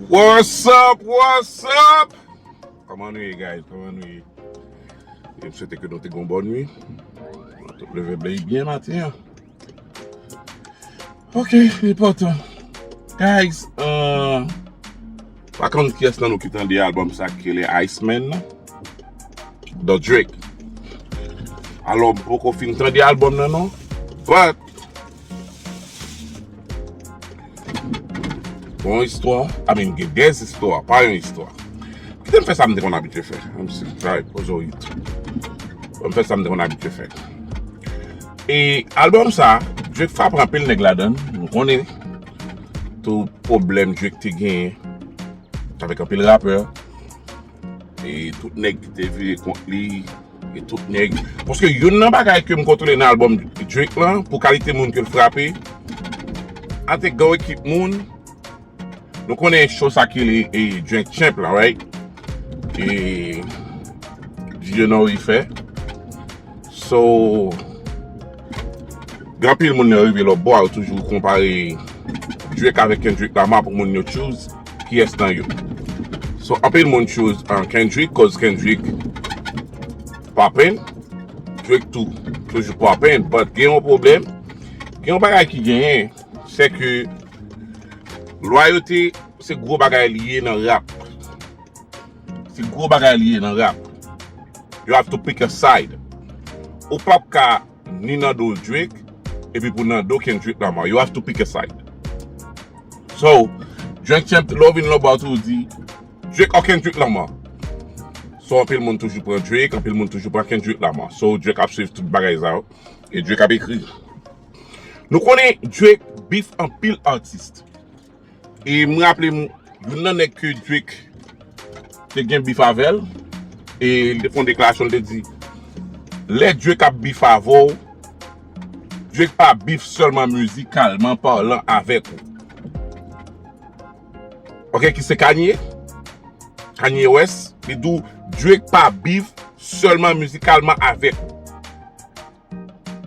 What's up, what's up? Koman nou ye guys, koman nou ye? E m swete ke nou te gon bon nwi. Mwen te leve bley byen maten an. Ok, li potan. Guys, euh, pa konn kyes nan nou ki tande album sa ki rele Iceman nan. The Drake. Alò m poko fin tande album nan non. But. Bon istwa, amen gen des istwa, pa yon istwa. Kite m fè sa m te konn abitye fè. M si m travay pou Zoït. Bon m fè sa m te konn abitye fè. E album sa, Drake frape anpil nèg ladan. M konnen tou pwoblèm Drake te genyen avèk anpil rapè. e tout nèg ki te vire kont li e tout nèg paske youn nan bagay ke m kontwole nan albòm Drake lan pou kalite moun ke l frape avèk gwo ekip moun nou konnen cho sa ki rele e Drink Champ la right e DJ Nori fè so gen anpil moun nan rive lòtbò a yo toujou konpare Drake avèk Kendrick Lamar pou moun yo tjou kiyès nan yo so anpil moun choose Kendrick koz Kendrick poppin Drake tou toujou poppin but gen yon pwoblèm gen yon bagay ki genyen se ke lwayote se gwo bagay li ye nan rap se gwo bagay li ye nan rap you have to pick a side ou pap ka Ni Nando Drake epi pou Nando Kendrick Lamar yo have to pick a side So Drink Champ lè w vin lan bar tou ou di Drake or Kendrick Lamar So anpil moun toujou pran Drake anpil moun toujou pran Kendrick Lamar So Drake ap swiv tout bagay sa yo e Drake ap ekri Nou konnen Drake beef anpil artist E m raple m youn nan nèg ke Drake te gen bif avè l, e li te fè yon deklarasyon, li te di, Lè Drake ap bif avè w, Drake pa bif sèlman mizikalman palan avèk ou. Ok, ki se Kanye, Kanye West, li di w, Drake pa bif sèlman mizikalman avèk ou.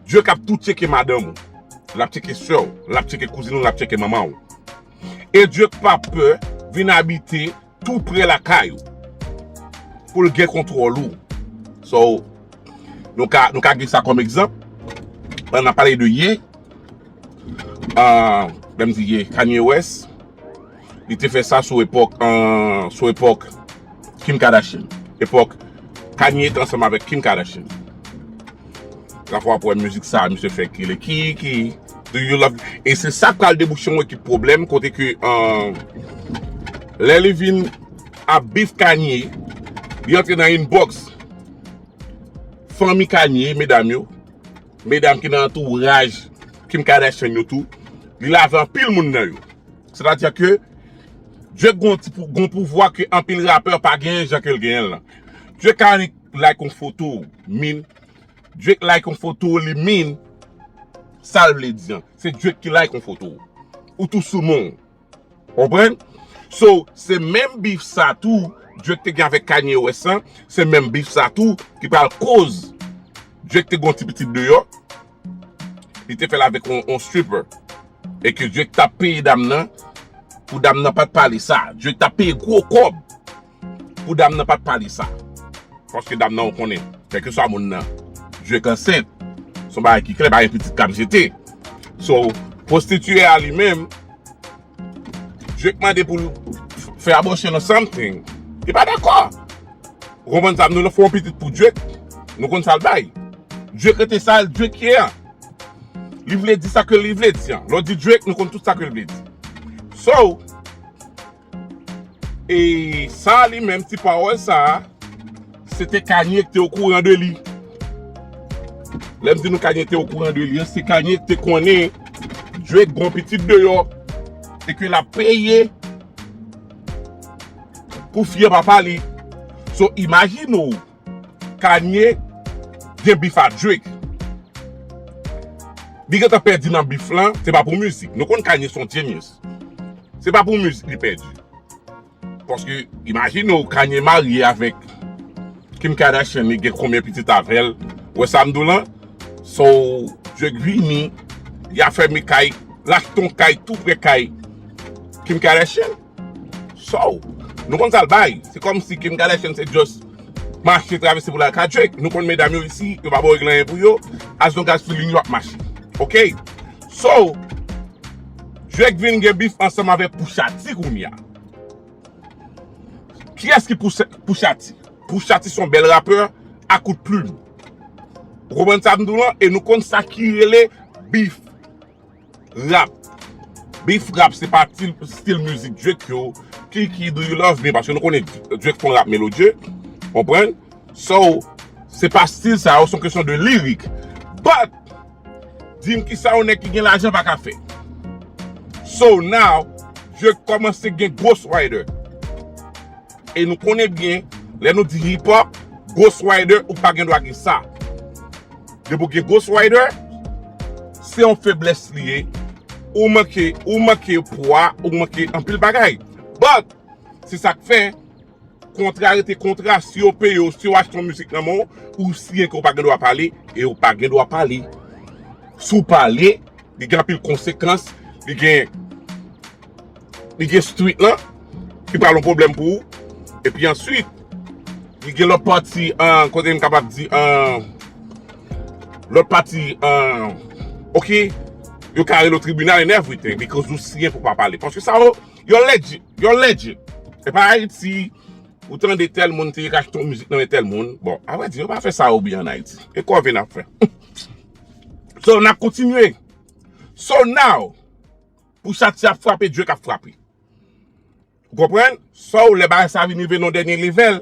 Dieu kap tou tyeke madanm ou lap tyeke sè ou lap tyeke kouzin ou lap tyeke manman ou e Dieu k pa pè vin abite tou prè lakay ou poul gen kontwòl ou so nou ka nou ka gen sa kòm egzanp pandan nap pale de ye ahh lèm di ye Kanye West. Li te fè sa sou epòk sou epòk Kim Kardashian. Epòk Kanye te ansanm avèk Kim Kardashian. La fwa pou wè mizik sa a misye fè kile ki ki Do you love me? E se sa pral debouche yon ekip pwoblèm kote ke lè li vin ap beef Kanye li antre nan inbox fanmi Kanye medam yo, medam ki nan antouraj Kim Kardashian yo tou. Li lave anpil moun nan yo. Sètadi ke Drake gen yon pouvwa ke anpil rapè pa genyen jan ke l genyen l lan. Drake ka annik like yon foto w, min, Drake like yon foto w li min sa l vle di an. Se Drake ki like yon foto w. Ou tou sou non w. Konprann? So, se menm beef sa tou Drake te gen avèk Kanye West lan, se menm beef sa tou ki pral koz Drake te gen yon ti pitit deyò. Li te fèl avèk yon stripper. E ke Drake ta peye dam nan pou dam nan pat pale sa. Drake ta peye gwo kòb pou dam nan pat pale sa. Paske dam nan ou konnen, kèlke swa moun nan, Drake ansent. Son bagay ki klè, pa gen pitit kap jete. So, pwostitye a li menm. Drake mande pou l fè abortion or something. Li pa dakò. Ou konprann sa m di w la? Fè yon pitit pou Drake. Nou konn sa l bay. Drake rete sa l Drake ye a. Li vle di sa ke li vle di an. Lè w di Drake, nou konn tout sa ke l vle di. So, e sa li menm, ti pawòl sa a. Se te Kanye ki te okouran de li. Lè m di nou Kanye te okouran de li an, se Kanye ki te konnen Drake gon pitit deyò e ke l ap peye pou fye papa li. So imajine ou Kanye gen bif a Drake. Li gen tan pèdi nan bif lan, se pa pou mizik. Nou konn Kanye se yon genius. Se pa pou mizik li pèdi. Paske imajine w Kanye marye avèk Kim Kardashian li gen konbyen pitit avèl ou wè sam diw lan so Drake vini li ap fèmen kay li achte yon kay tou prè kay Kim Kardashian so nou konn sal bay se kòmsi Kim Kardashian se just mache travèse pou lal ka Drake nou konn medam yo isi yo pa bay yo anyen pou yo as long as feeling yo ap mache ok. So, Drake vin gen bif ansanm avèk Pusha T kounye a. Kiyès ki Pusha T? Pusha T se yon bèl rapè a kout plim. Ou konprann sa m di w lan? E nou konn sa ki rele bif rap. Bif rap se pa ti stil mizik Drake yo, Kiki, Do You Love Me, paske nou konnen Drake fè yon rap melodye. Konprann? So, se pa stil sa yo, se yon kesyon de lirik. But, Dim kisa yon nèg ki gen lajan pa ka fè. So now je kòmanse gen ghost rider. E nou konnen byen lè nou di hip hop ghost rider ou pa gen dwa gen sa. Depi ou gen ghost rider se yon feblès li ye. Ou manke ou manke pwa ou manke anpil bagay. But se sak fè. Kontra rete kontra, si yo peye w, si yo achte yon mizik nan men w, ou siyen ke w pa gen dwa pale, e ou pa gen dwa pale. Si w pale, li gen anpil konsekans, li gen, li gen street lan, ki pral yon pwoblèm pou ou, e pi answit, li gen lòt pati, an, kote m kapab di, an, lòt pati, an, ok, yo ka rele w tribinal and everything, because ou siyen pou w pa pale, paske sa yo. You're legit! You're legit! E pa Ayiti ou tande tèl moun te ka achte yon mizik nan men tèl moun. Bon, a vrè di, yo pa fè sa ou byen an Ayiti. E kòve n ap fè. So, n ap kontinye. So now, pou chat si ap frape, Drake ap frape. Ou konprann? So, lè bagay sa vin rive nan yon dènye level.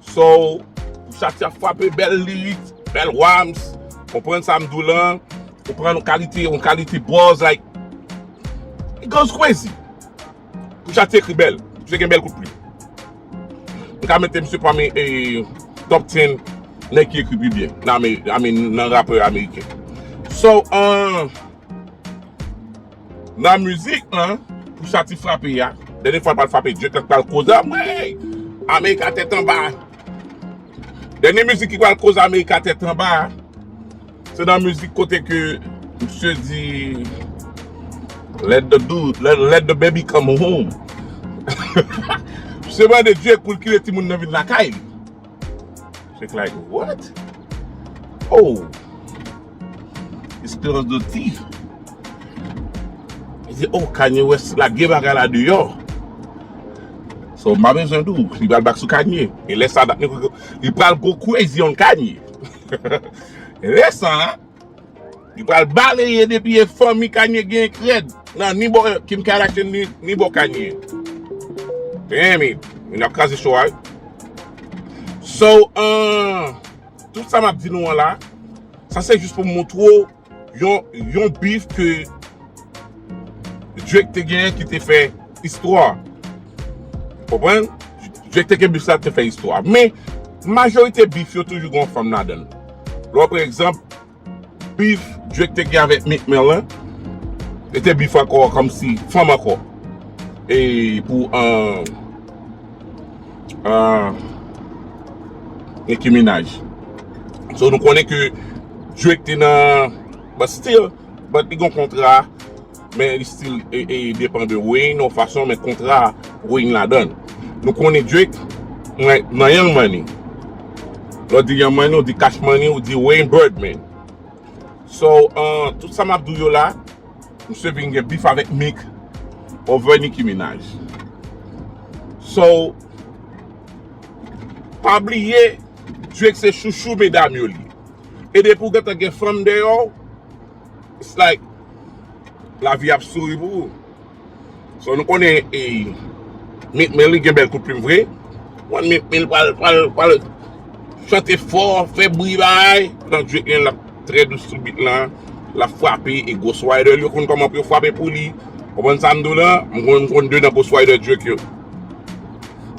So chak chak fwape bèl lyrics bèl rhymes konprann sa m di w lan ou pran yon kalite yon kalite bars like it goes crazy pou chak ti ekri bèl misye gen bèl kout plim m ka mete misye pami top 10 nèg ki ekri pi byen nan rapè ameriken so ahh. Nan mizik lan pou Shati frape a, dènye fwa l pral frape Drake lan ki pral koz anmweyy America tèt anba. Dènye mizik ki pral koz America tèt anba a, se nan mizik kote ke misye di Let the dude, let the baby come home. Misye mande Drake pou l kile timoun nan vin lakay li. Check like what? Oh! Esperans do ti. E se oh kanye wè se la geba gala di yo. So ma men jen dou. Li bal bak sou kanye. E lè sa da. Li pral go crazy on kanye. E lè sa. Li pral baleye depi e fanmi Kanye gen k rèd nan ni bò Kim Kardashian ni bò Kanye. Damn it! Moun yo ap kraze show a wi. So, tout sa map di nou an la, sa se jis pou m montre w yon beef ke Drake te genyen ki te fè istwa. Ou konprann? Drake te gen beef sa te fè istwa. Men, majorite beef yo toujou gen yon fanm ladan l. Lè w pran egzanp, bif Drake te gen avèk Meek Mill lan, li te bif ankò kòmsi fanm ankò. E pou Nicki Minaj. So nou konnen ke Drake te nan, but still, but li gen yon kontra. Men li stil depan de Wayne yon fason men kontra Wayne ladan. Nou konnen Drake mwen nan Young Money. Lò di Young Money ou di Cash Money ou di Wayne Birdman. So an tout sa map dou yo la msye vin gen bif avèk Meek over Nicki Minaj. So pa bliye Drake se chouchou medam yo li. E depi ou gentan gen fanm deyò w. it's like lavi ap souri pou ou so nou konnen e Meek Mill li gen bèl kout plim vre wan Meek Mill pral chante fò fè bri bagay pandan Drake li menm lap trè dous sou beat lan lap frape e Ghost Rider yo konn kòman pou yo frape pou li konprann sa m di w la m konn 2 nan Ghost Rider Drake yo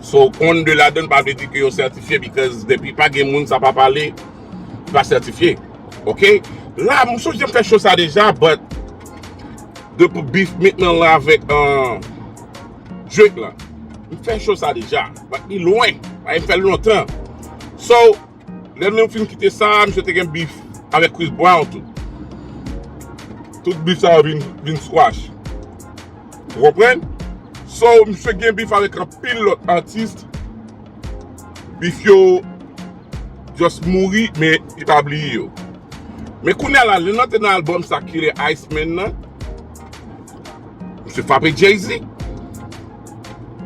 so konn 2 ladan l pa vle di ke yo sètifye because depi pa gen moun sa pa pale. li pa sètifye ok la m sonje m fè cho sa deja but de pou beef meat nan la avèk drake la m fè cho sa deja but li lwen paske m fè l lontan so lè m fin kite sa misye te gen beef avèk chris brown tou tout beef sa yo vin squash ou konprann so misye gen beef avèk anpil lòt atis Bif yo just mouri men li pa bliye yo. Men kounya la lè nan te nan album sa Killer Ice Man nan misye frape Jay Z.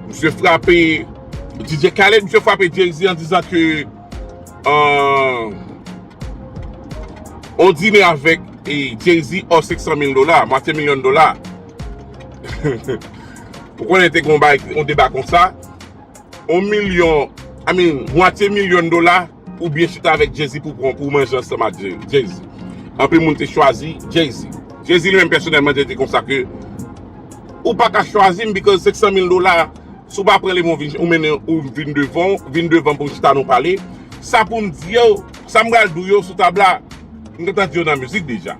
Misye frape DJ Khaled, misye frape Jay Z an dizan ke on dine avèk Jay Z or 500 mil dola, mwatye milyon dola. Ou konnen te gon bay on deba konsa. On milyon, I mean, mwatye milyon dola, ou byen chita avèk Jay-Z pou pran, pou manje ansanm ak Jay-Z. Anpil moun te chwazi Jay-Z. Jay-Z li menm pèsonèlman te di konsa ke, Ou pa ka chwazi m because 500 mil dola, si w pa pran li men w vin, ou mennen, ou vin devan, vin devan pou n chita nou pale. Sa pou m di yo, sa m pral di w yo sou tab la, m gentan di yo nan mizik deja.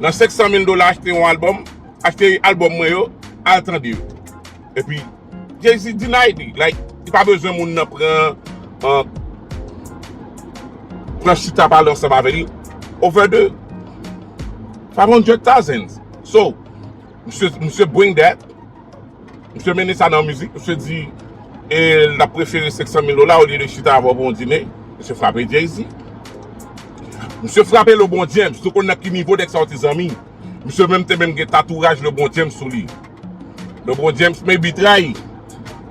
Nan 500 mil dola achte yon albòm, achte albòm mwen yo, al tande yo. Epi Jay Z deny li like li pa bezwen moun nan pran an pran chita pale ansanm avè li over the five hundred thousands so misye misye bring that misye mennen sa nan yon mizik misye di e l ta prefere 500 mil dola olye de chita avè w pou yon dine misye frape Jay Z misye frape LeBron James nou konn nan ki nivo nèg sa yo te zanmi. Misye menm te menm gen tatouraj Lebron James sou li. Lebron James men bi trayi.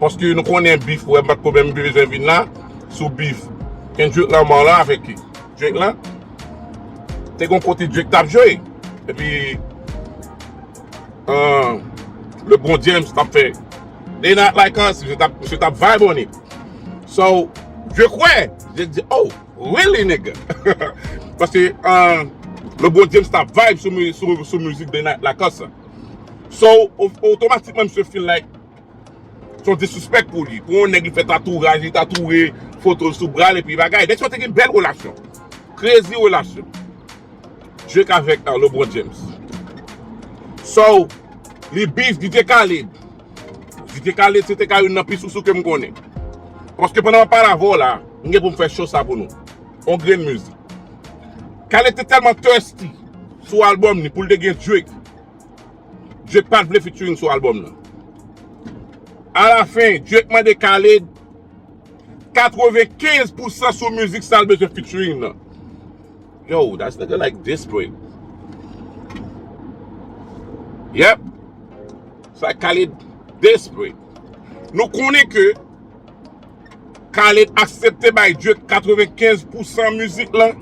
Paske nou konnen bif wè bat ko menm bi bezwen vin la sou bif. Kendrick Lamar la avèk ki. Drake la. Te kon kote Drake tap jwe. E pi. Euh, Lebron James tap fè. They not like us. Misye tap vibe on it. So, je kwè. Je di, oh. Really nigga Paske ahh Le gros James tap vibe sou mu sou sou music de Night Lacoste an. So of- otomatikman misye feel like son disrespect pou li. Pou yon nèg li fè tatouraj, li tatoure foto l sou bra l epi bagay. Nèg sa yo te gen bèl relasyon. Crazy relasyon. Drake avèk LeBron James. So li beef DJ Khaled. Si te ka lese te ka youn nan pi sousou kem konnen. Paske pandan map pale avè w la, m gen pou m fè show sa pou nou. On grenn mizik. Kale te tèlman thirsty sou album li pou l te gen Drake. Drake pat vle featuring sou album nan. A la fin, Drake mande Kale 95 pousan sou mizik sa l bezwen featuring nan. Yo, that's nigga like desperate. Yep, sa Khaled desperate. Nou konnen ke Khaled aksepte bay Drake 95 pousan mizik lan.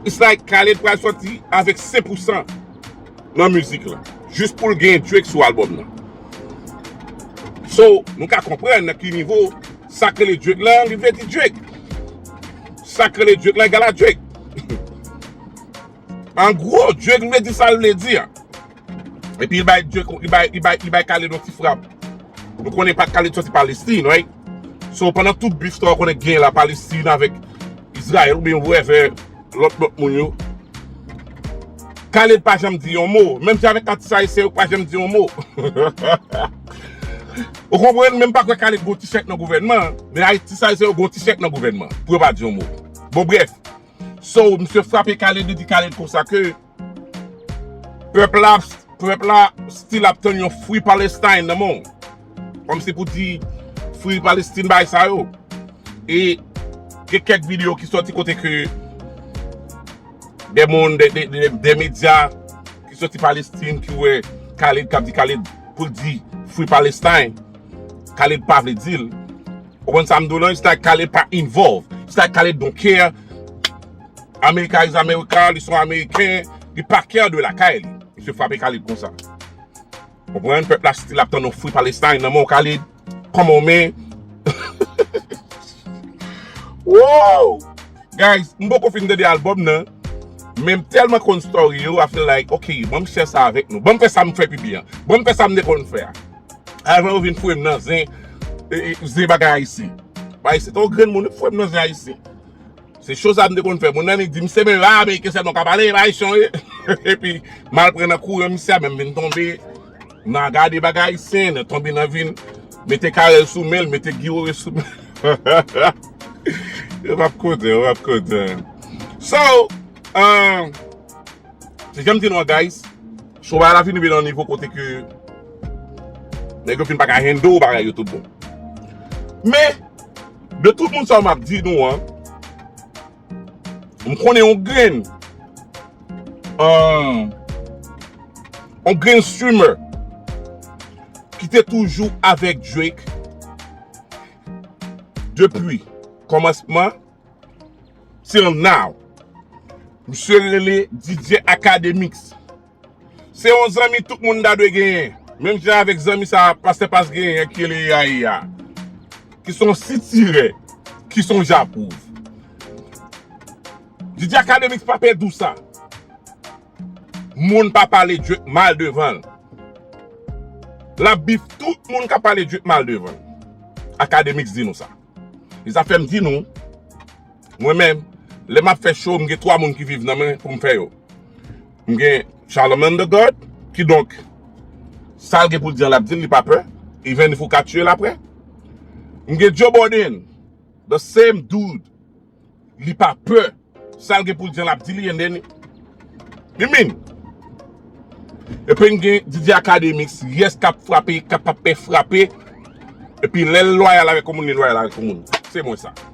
It's like Khaled pral soti avèk 5 pousan nan mizik lan. Jis pou l gen Drake sou album nan. So, nou ka konprann nan ki nivo. Sak rele Drake la li vle di Drake. Sak rele Drake la egal a Drake. An gwo, Drake vle di sa l vle di a. Epi li bay Drake, li bay, li bay, li bay Khaled yon ti frap. Nou konnen pa Khaled soti Palestine, right? So, pandan tout beef sa w konnen k genyen la Palestine avèk Israel oubyen whoever lòt lòt moun yo, Khaled pa janm di yon mo. Menm jan avèk atis ayisyen yo k pa janm di yon mo. Ou konprann men m pa kwè Khaled gen yon ti chèk nan gouvènman an, men Ayiti sa yo se yo gen yon ti chèk nan gouvènman an, pou yo pa di yon mo. Bon brèf, so misye frape Khaled li di Khaled konsa ke pèp la ap pèp la still ap tann yon Free Palestine nan men w. Kòm se pou di Free Palestine bagay sa yo. E gen kèk videyo ki sòti kote ke de moun de medya. Ki soti Palestine ki wè Khaled kap di Khaled poul di free Palestine Khaled pa vle dil ou konn sam diw lan it's like Khaled pa involve it's like Khaled don't care America is America li son ameriken li pa care de lakay li misye frape Khaled konsa ou konprann pèp la still ap tann yon free Palestine nan menw Khaled. Come on man Woo Guys m poko fin tande album nan Men m telman konn story yo I feel like ok bon m share sa avek nou Bon m fè sa m fè pi byen Bon m fè sa m te konn fè a Avan yo vin foure m nan zen Zen bagay ayisyen Bagay se ton grenn moun yo foure m nan zen ayisyen Se cho sa m te konn fè Moun nan vin di m se men a ameriken selman ka pale e pa ayisyen yo ye Epi m al pran nan kouran misye a menm vin tonbe. Nan gade bagay ayisyen nan tonbe nan vin mete carel sou menl mete Guy wewe sou menl yo pap kontan yo pap kontan so ahh se janm di nou an guys so bagay la fin rive nan yon nivo kote ke nèg yo fin paka handle bagay yo tout bon men de tout moun sa yo map di nou an. M konnen yon grenn. Ahh. Yon grenn streamer. Ki te toujou avèk Drake. Depi. Kòmansman. Till now. Misye rele DJ Akademiks. Se yon zanmi tout moun ta dwe genyen. Menm jan avèk zanmi sa a pastè Paz genyen an ki rele Eraï a. Ki son sitirè. Ki son japwouv. DJ Akademix pa pè dou sa. Moun pa pale DJ mal devan l. L ap bif tout moun k ap pale DJ mal devan l. Akademix di nou sa. E sa fè m di nou. Mwen menm. Lè m ap fè show m gen 3 moun ki viv nan mwen pou m fè yo. M gen Charlemagne the God, kidonk, sa l gen pou l di an l ap di l, li pa pè, even if ou ka tiye l aprè. M gen Joe Biden, the same dude, li pa pè, sa l gen pou l di an l ap di li and then he mean. Epi m gen Didier Academics, yes k ap frape, k ap ap pè frape, epi lè l lwayal avèk yon moun, li lwayal avèk yon moun. Se mwen sa.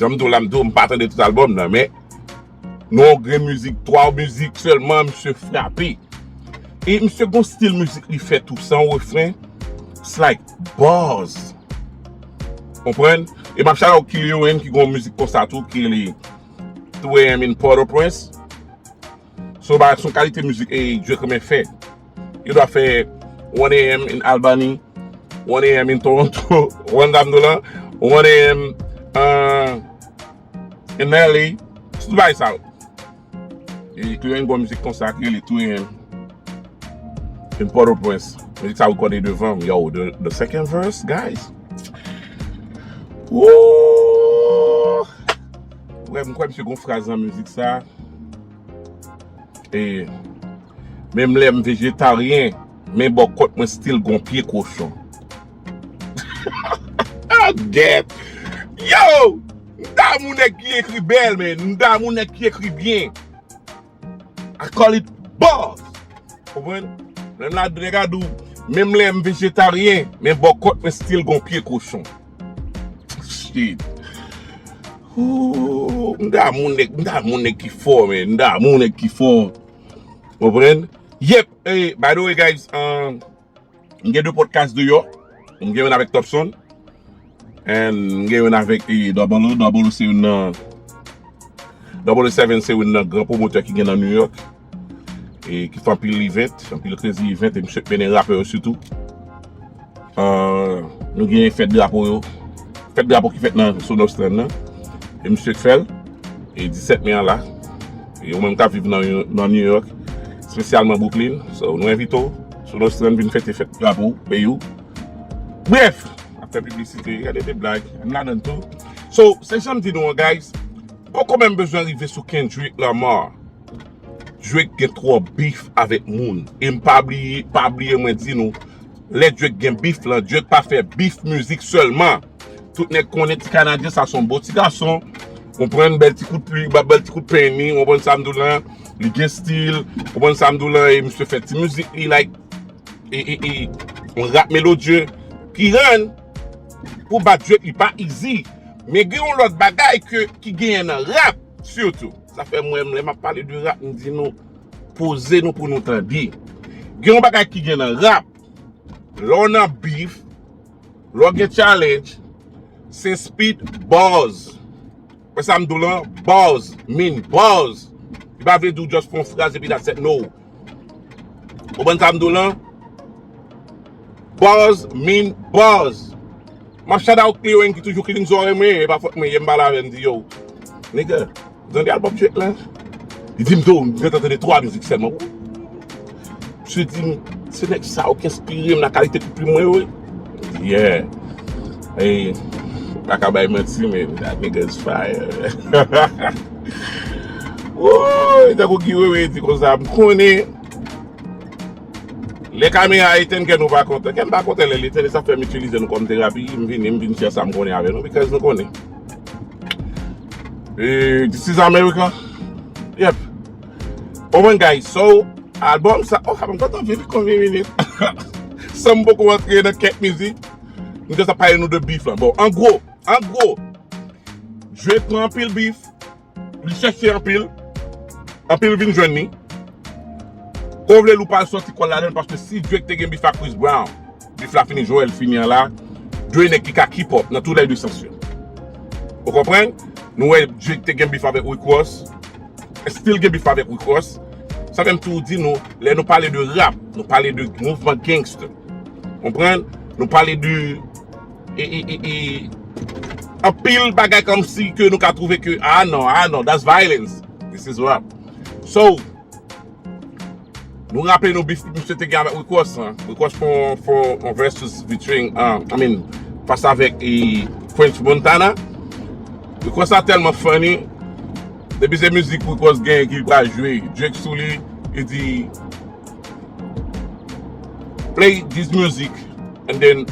Janm diw la m diw m pa tande tout album nan men nan yon grenn mizik 3 mizik sèlman misye frape e misye gon stil mizik li fè tou san refren it's like bars konprann e map shout out Killian Wayne ki gon mizik konsa tou ki rele 3 am in Port-au-Prince. So ba son kalite mizik e Drake renmen fè. Yo dwa fè one AM in Albany, one AM in Toronto, one dam do lan, one AM in LA. Tout bagay sa yo. E tou yon gwa mizik konsa ki rele two AM in Port au Prince. Mizik sa rekòde devanm. Yo, the second verse guys. Woo! Frè m kwè misye gon fraz nan mizik sa e menm lèm vejetaryen men bò kòt mwen stil gon pye kochon ah gèt yow m damou nèg ki ekri bèl men m damou nèg ki ekri byen. I call it bars! Konprann? Lè m la dre ka di w, menm lè m vejetaryen, men bò kòt mwen still gon pye kochon. Shit! Ooh! M damou nèg, m damou nèg ki fò men, m damou nèg ki fò. Konprann? Yep! By the way guys, umm. M gen 2 podcast deyò, m gen youn avèk Topson and m gen youn avèk Double O, Double O se youn nan Double O 7 se youn nan gran pwomotè ki gen nan New York e ki fè anpil event, anpil krezi event e misye k mennen rapè yo sitou. Nou gen fèt drapo yo, fèt drapo ki fèt nan Sonos Strand nan e misye k fè l e 17 me an la e ou menm k ap viv nan New York spesyalman Brooklyn, so nou envite w. Sou lòs lan vin fète fèt drapo peyi w. Brèf! Ap fè piblisite, gade de blag, m ladann tou. So, se jan m di nou an guys, poko menm bezwen rive sou Kendrick Lamar. Drake gen twòp bif avèk moun. E m pa bliye, pa bliye mwen di nou, lè Drake gen bif lan, Drake pa fè bif mizik sèlman. Tout nèg konnen ti kanadyen sa son bon ti gason. Ou pran bèl ti kout pli, ba bèl ti kout peni, ou pran sam dou la, li gen stil, ou pran sam dou la, e misye fè ti mizik li like, e e e, on rap melodye, ki rann, pou bat jwèt li pa izi. Men gen yon lòt bagay ke ki genyen nan rap, sitou. Sa fè mwen menm lè map pale de rap, m di nou, poze nou pou nou tande. Gen yon bagay ki gen nan rap, lè w nan bif, Lè w gen challenge, se speed buzz. Wè sa m di w lan? Buzz mean buzz. Li pa vle di w just fè yon fraz epi that's it, no. Konprann sa m di w lan? Buzz mean buzz. M ap shout out Cleo Eng ki toujou clean zòrèy mwen, e pa fòt mwen ye m pale avè l m di yow nigga. Ou tande album Drake la? Li dim tou m gentan tande 3 mizik sèlman wouy. Misye dim se nèg sa yo ki enspirem nan kalite pou plim mwen yo wi. M di yeah. E m paka bay manti men that nigga is fire. Wouuyy tankou Guy Wewe di konsa m konnen lè kamera a etenn kè nou pa kontan. Kè m pa kontan lè l etenn e sa fè m itilize nou kòm terapi. M vini m vin share sa m konnen avè nou because nou konnen. Eh, this is America. Yep. Oh my guys, so album sa, oh kapon kontan vini kon vini vini. San m poko antre nan kèk mizik, m jòs ap pale nou de bif lan. Bon, an gwo, an gwo, jwe pran anpil bif. Li chèche anpil, anpil vin jwenn li. Ou vle l ou pa l sòti kò l ladan l paske si Drake te gen bif ak Chris Brown, bif la fini Joel fini an la. Dre nèg ki ka keep up nan tou lè 2 sans yo. Ou konprann? Nou wè Drake te gen bif avèk Rick Ross, still gen bif avèk Rick Ross. Sa fè m toujou di nou, lè nou pale de rap, nou pale de mouvman gangster. Konprann? Nou pale de. anpil bagay kom si ke nou ka trouve ke ah non, ah non, that's violence this is rap so nou raple nou bif misye te gen avèk Rick Ross lan, Rick Ross fè yon versus between I mean fas avèk French Montana Rick Ross la tèlman funny depi se mizik Rick Ross gen ki li pral jwe Drake sou li li di Play this music and then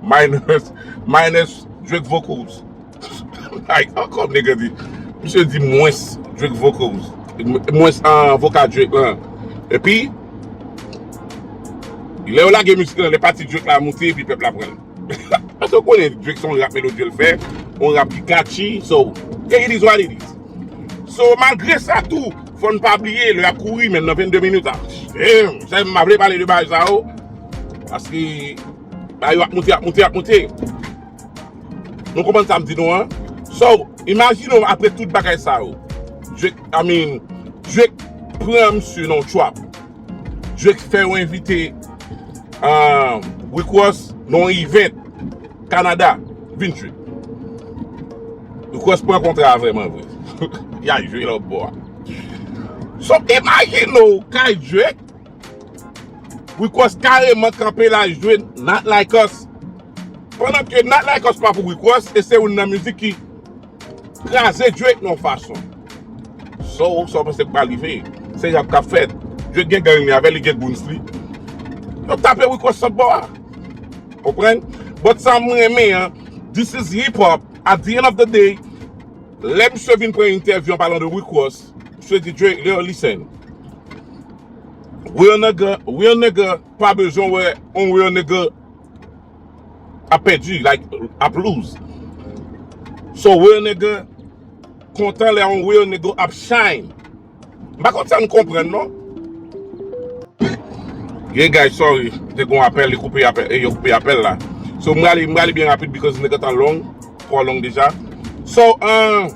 minus minus Drake vocals like how come nigga di misye di mwens Drake vocals mwens vocal Drake lan epi lè yo lage mizik lan lè pati Drake la moute epi pèp la pranl. Eske ou konnen Drake se yon rap melodye l fè, yon rap ki catchy, so yeah it is what it is. So malgre sa tou fò n pa bliye lè yap kouri menm nan 22 minutes a Damn! Sa m pa vle pale de bagay sa yo paske bagay yo ap moute ap moute ap moute Nou konprann sa m di nou an So imajine w apre tout bagay sa yo Drake I mean Drake pran misye nan yon trap Jwex fè yon envite Rick Ross nan yon event Canada vin jwe. Rick Ross pran kontra a vreman vre. Y al jwe lòt bò a. So imagine ou kay Jwex Rick Ross kareman kanpe la jwe Not Like Us. Pandan ke Not Like Us pa pou Rick Ross e se youn nan mizik ki Kraze Drake nan yon fason. So, sa w panse k pral rive? Se rap k ap fèt. Drake gen gang li avè l, li gen goons li. Yo ap tape Rico sot bò a. Konprann? But sa m renmen an, this is hip hop, at the end of the day, lè misye vin pran entèvyou an palan de Rick Ross, misye di Drake, yo listen, real nigga, real nigga pa bezwen wè yon real nigga. ap pèdi like ap lose so real nigga kontan lè yon real nigga ap shine m pa konn sa n konprann non Hey guys sorry te gon apèl yo koupe apèl yo koupe apèl la so m prale m prale byen rapid because nèg antan long twò long deja so ahh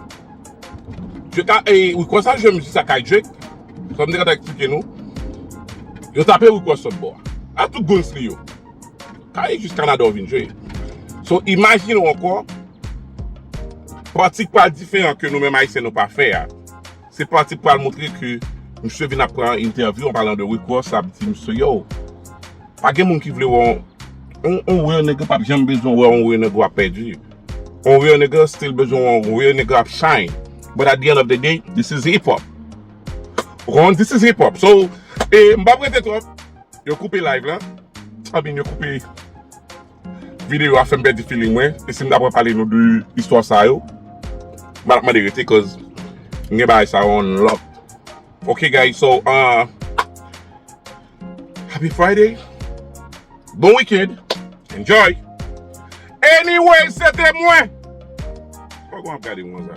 je ta ee ou kwè sa jwe mizik sa kay Drake kòm m te konn eksplike nou yo tape Rick Ross lòtbò a a tout guns li yo. Sa e jis Canada ou vin jwe. So imagine ou ankò, pati ki pral diferan ke nou menm Ayisyen nou pa fè a, se pati ki pral montre ke misye vin ap pran entèvyou an palan de Rick Ross ap di misye yo, pa gen moun ki vle wè yon real nigga pap janm bezwen wè yon real nigga ap pèdi. Yon real nigga still bezwen wè yon real nigga ap shine. But at the end of the day, this is hip hop. Ou konprann? This is hip hop. So, e m pap rete twòp. Yo koupe live la Anbyn yo koupe video a fèm pèdi feeling mwen e sim ta pran pale nou de istwa sa yo mal ap mande rete koz m gen bagay sa yo on lock ok guys so ahh happy Friday bon weekend enjoy anyway se te mwen. Poko wap gade mwen konsa.